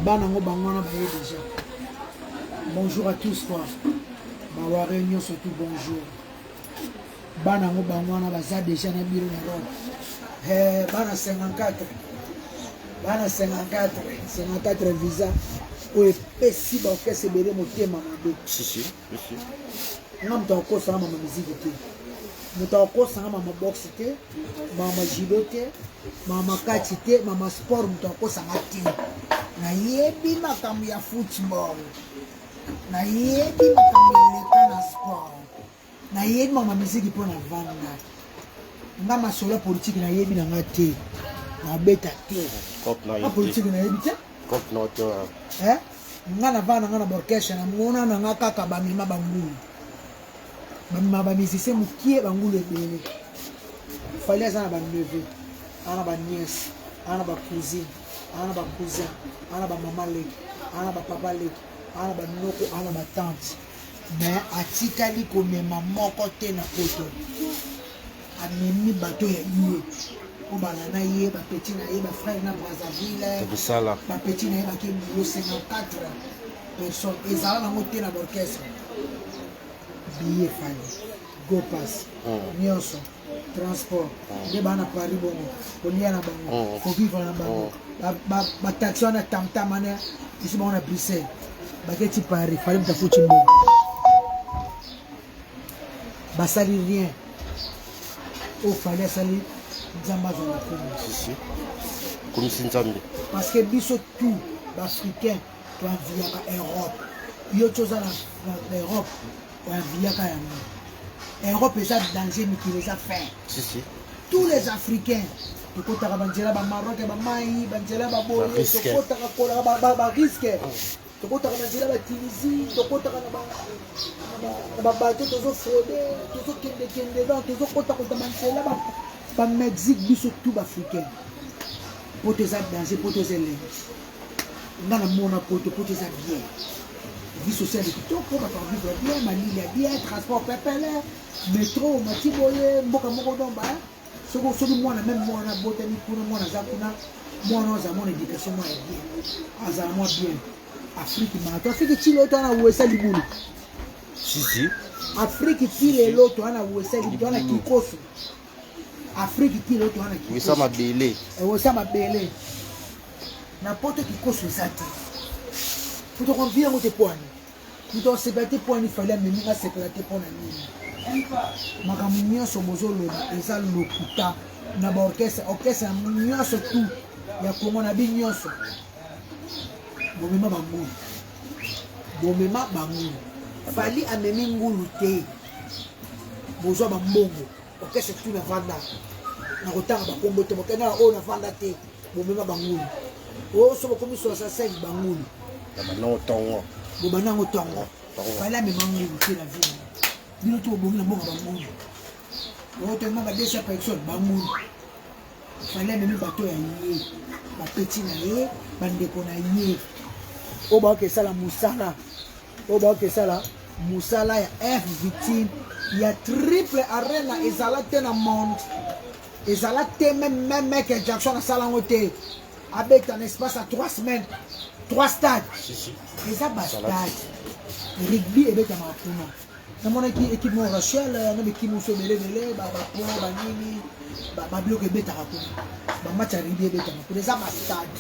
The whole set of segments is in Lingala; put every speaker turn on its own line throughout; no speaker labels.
bana yango bango wana baye déjà bonjour à tous quoi baware nyonso tout bonjour bana yango bango wana baza déjà na biro na rome eh, bana 54 bana 54 54 visa oyo epesi baorkestre ebele motema mabe nga moto akosanga mama miziki te moto akosanga mama boxe te mama judo te mama kati te mama sport moto akosanga te nayebi makambo ya football nayebi makambo eleka na sport nayebi mama miziki mpo na vanda nga masolo ya politike nayebi na nga te nabeta te politike
nayebi te eh? nga
na bana nga na borkeshe na mona na nga kaka bamema bangulu bamema bamisise mokie bangulu ebele fali aza na baneve aza na baniese aza na bacousine aza na bacousin aza na bamama leki aza na bapapa leki aza na banoko aza na batante me atikali komema moko te na poto amemi bato ya ye po bana na ye bapeti na ye bafrere na brazzaville bapeti na ye bake bulo 54 personne ezala nango te na borchestre biye fani gopas hmm. nyonso transport hmm. nde bana paris bongo kolia na bango hmm. kovivre na bango bataxi wana tamtam wana esi bango na bruxelles baketi paris fali mutafuti mbongo basali rien oyo fali asali nzambe azala komisi
komisi nzambe parce que biso
tout baafricain toanviyaka europe yo ti oza na europe oanviyaka yango europe eza danger mikili eza fin tous
les
africains tokotaka banzela bamaroke bamai banzela baboye tokotaka kolaka bariske tokotaka na nzela batunisie tokotaka na babato tozofrode tozokendekende ba tozokotakota banzela bamexique biso tu baafricain poto eza danger poto eza elengi nga namona poto poto eza bien vie sociale kitoko bato bavivre bien malili ya bien transport pepele metro mati boye mboka moko nomba soko soki mwana meme mwana abotami kuna mwana aza kuna mwana aza mwana education mwana ya bien azala mwa bien afrike mato afrike ti lelo toana wesa libulu sisi
afrike
ti lelo toana wesa libulu toana kikoso afrike ti lelo toana wesa mabele eh,
wesa mabele
na poto kikoso eza te fotokonvia yango te poani moto asepela te mpo ani fali amemi nga asepela te mpo na nini makambo nyonso bozoloba eza lokuta na baorkestre orkestre nyonso tu ya kongo na bi nyonso bomema bangulu bomema bangulu fali amemi ngulu te bozwa bambongo Orchestre tout na vanda. Na kotanga ba kombo te bokenda na oyo na vanda te. Bomema bangulu. Oyo sobo komi 65 bangulu. Na banango tongo.
Bobanango tongo.
Fala mema ngulu te na vie. Bino to bomi na mboka bangulu. Oyo to mama 200 personnes bangulu. Fala mema bato ya ye. Ba petit na ye, ba ndeko na ye. Oyo ba ke sala musala. oyo baoki esala mosala ya f victime ya triple arena ezala te na monde ezala te meme meme michael jackson asala yango te abeta na espace ya 3 semaines 3 stade eza bastade rugby ebetamaka kuna namonaki ekipe moko rachel na bekimi mosusu ebele ebele babapo banini babiloko ebetaka kuna bamatch ya rugby ebetama kuna eza bastade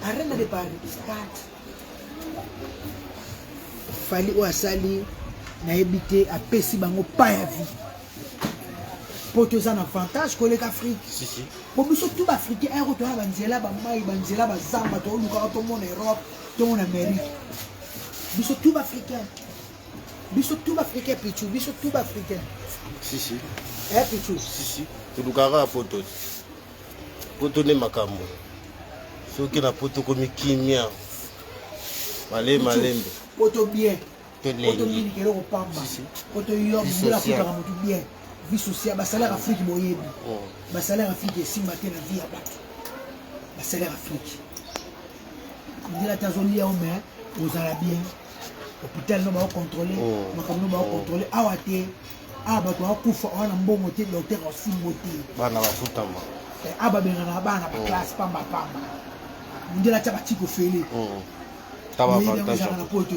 arena de paris stade fali oyo asali nayebi te apesi bango pa ya vie mpo toza na avantage koleka afrike mpo biso
tu
baafricain ayako toya na banzela bamai banzela bazamba toolukaka tomona europe tomona amérique biso tu baafricain biso tu baafricain pichu biso tu baafricain
eh pichu tolukaka poto poto nde makambo soki na poto komi kimia male malembe poto bien
poto mingi
keloko
pamba poto yo mbula kutaka motu bien vie sociale basalaire afrique boyebi oh. basalaire afrique esimba te na vie ya bato basalaire afrique ndela te azolia o mai ozala bien hôpital no bao contrôle oh. makambo no bao oh. contrôle awa te awa bato bakufa awa na mbongo te docteur asimbo te bana bafutama eh, awa babengana bana
oh.
baklasse pamba pamba mondele atya batiki ofele
ezalaka na
poto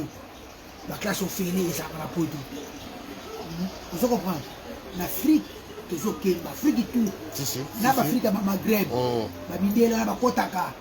baklasse ofele ezalaka na poto hmm? ozo comprendre na afrique tozokenda afrique tout na baafrika bamagreb babindela bakotaka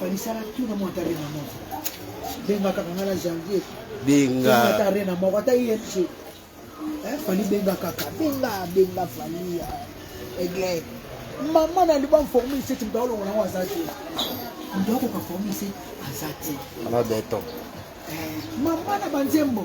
falisala tu na mwata rena moko benga kaka nga na janvier benga ata rena moko ata imc eh, fali benga kaka benga benga fali ya aigle mama na liba forme iseti moto aolongola yango aza te moto akoka forme ise aza te ana beton
eh, mama
na banzembo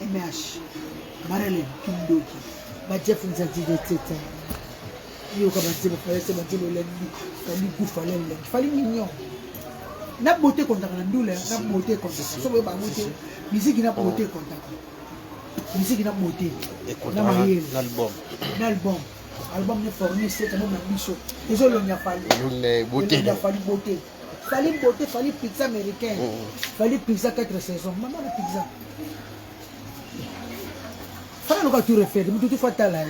MH marele kindoki ba Jeff Nzadi de teta yoka ba Jeff fallait se batelo la vie fallait goût fallait la fallait mignon na beauté kontaka na ndula na beauté kontaka so boye bango te miziki na beauté kontaka miziki na beauté na mayele na album na album album ne forme se kama na biso ezolonga fali ya
fali beauté
Fally beauté, Fally pizza américain. Mm. Fally pizza 4 saisons. Maman la pizza. Fally loka tout refaire, mutu tout fatala.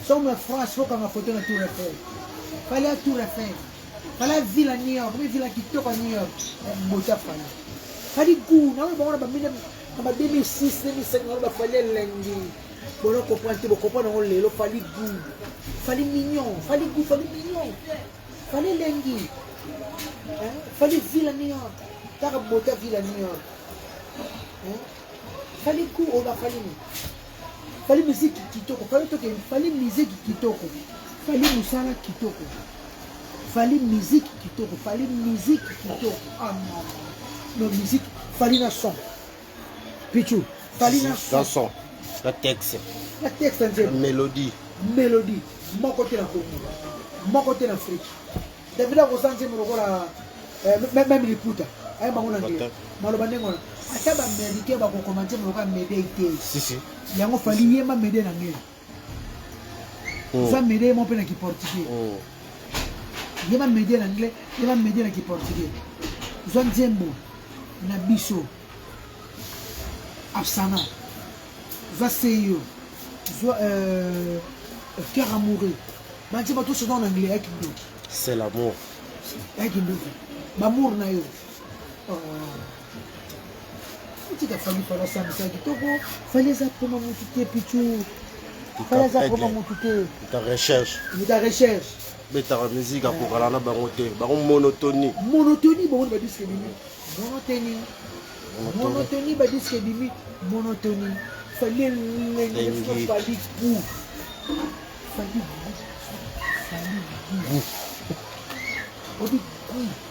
Somme France, faut qu'on a photo na tout refaire. Fally a tout refaire. Fally a ville à New York, mais ville à kitoko à New York. Beauté Fally. Fally goût, na on va ba mine na 2006, 2005 na ba Fally elengi. Bolo comprendre te, bo comprendre ngo lelo Fally goût. Fally mignon, Fally goût, Fally mignon. Fali elengi. Hein? Fali villa New York. Taka bota villa New York. Hein? Fali ku oba fali ni. Fali muziki kitoko. Fali toke fali muziki kitoko. Fali musala kitoko. Fali muziki kitoko. Fali muziki kitoko. Ah maman. No muziki fali na son. Pichu, Fally na son. son. Na texte.
Na texte ya nzembo.
Melodie.
Melodie.
Moko te na Congo. Moko te na Afrique. David akosa nzembo lokola eh, même liputa. Aye bango na ngela. Maloba ndenge wana. Ata ba Américains bakokoma nzembo lokola Medei te. Si si.
Yango Fally
yema Medei na ngela. oh. eza media ye moko mpe na kiportugais oh. ye bamedia na anglais ye bamedia na kiportugais zwa nzembo na biso absana zwa seyo zwa euh, cœur amoureux bantie bato oso eza na anglais ya kindoki c'est l'amour
ya kindoki
bamour na yo oh. tika fali fali asambisa kitoko fali eza mpoma motu te pichu fali aza mpoma motu te ta recherche
ta recherche
betaka musique
akokana na bango te bango monotonie monotonie bango
badiske bimi monotonie monotonie badiske bimi monotonie fali elenge fali pu fali fali pu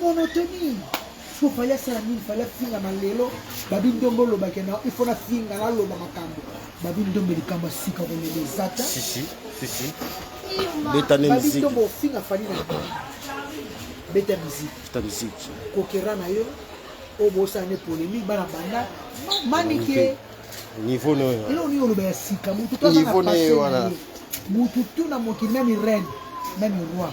monotonie
fo fali asala nini fali afinga na lelo babi ndombe olobake na ifo nafinga naloba makambo babi ndombe likambo ya sika kolela eza ta
betane miziki ndombe
ofinga fali na beta miziki beta miziki
kokera na yo
oyo bosala ne polemike bana banda manike niveau
noyo eloko nini oloba ya sika
mutu to aza na pase
mutu tu
na mokili meme reine meme roi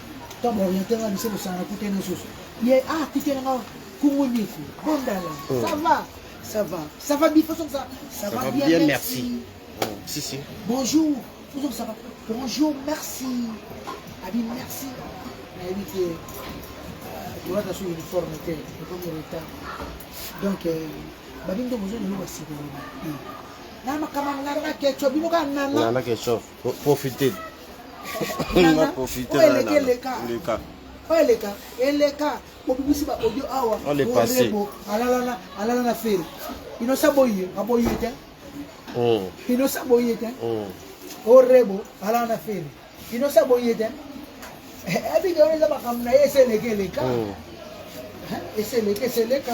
to ba orienter nga biso kosangana kuta ene susu ye ah kuta ene nga kungu nyiku bondala oh. ça va ça va ça va bien façon ça ça va bien merci oh, si si
bonjour
toujours ça va bonjour merci abi merci nayebi te tolata so uniforme te ekomi retard donc euh, babi nde bozo lelo basikoloba na makambo nana keco bino kaka nana
profite na profite oyo eleki eleka
eleka oyo eleka eleka bobimisi ba audio awa On est passé. orebo
alalana alala
na fere inosa boye aboye te oh inosa boye te oh orebo alala na fere inosa boye te abike wana eza makambo na ye ese eleki eleka oh Eh, ese eleki ese eleka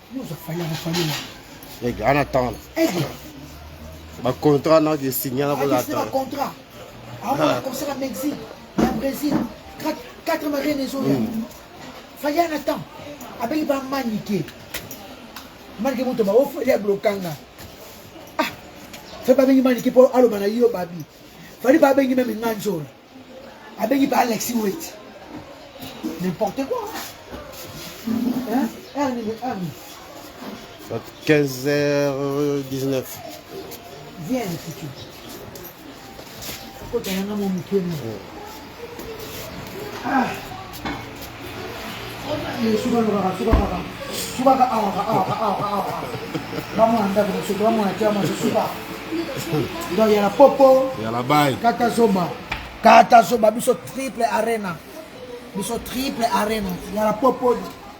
Aigle, en attendant.
Aigle. Ba contrat na ke signé na bola ta. Contrat.
Awa conseil à Mexique, na Brésil, quatre quatre marins les autres. Fallait en attendre. Abeli ba maniquer. Maniquer moto ba ofa ya blokanga. Ah. Fallait ba bengi maniquer pour aloba na yo babi. Fallait ba bengi même nganjola. abengi pa alexi weti n'importe quoi hein erni le erni 15h19 viens le futur kota yanga mo mokemo ah suka lokaka suka kaka suka ka awa ka awa ka awa ka awa bamwana ndako mosuku bamwana tia maso suka donc yala popo yala bai kata
zoba
kata zoba biso triple arena biso triple arena yala popo